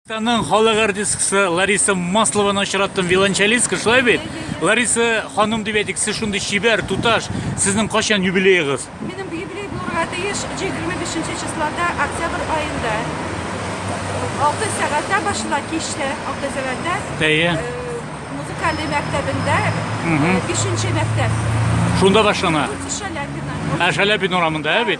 Татарстанның халык артисткасы Лариса Маслованы очраттым, виолончелистка, шулай бит? Лариса ханым дип әйтик, сез шундый чибәр, туташ, сезнең качан юбилеегыз? Минем юбилей булырга тиеш 25 числода, октябрь аенда. 6 сәгатьтә башла кичтә, 6 сәгатьтә. Әйе. Э, музыкаль мәктәбендә, 5 э, мәктәп. Шунда башлана. Ә Шаляпин урамында, ә бит?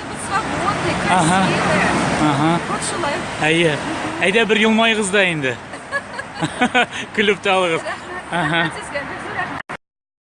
Ага. Ага. Вот шулай. Әйе. Әйдә бер елмайгыз да инде. Көлеп тә алыгыз. Ага.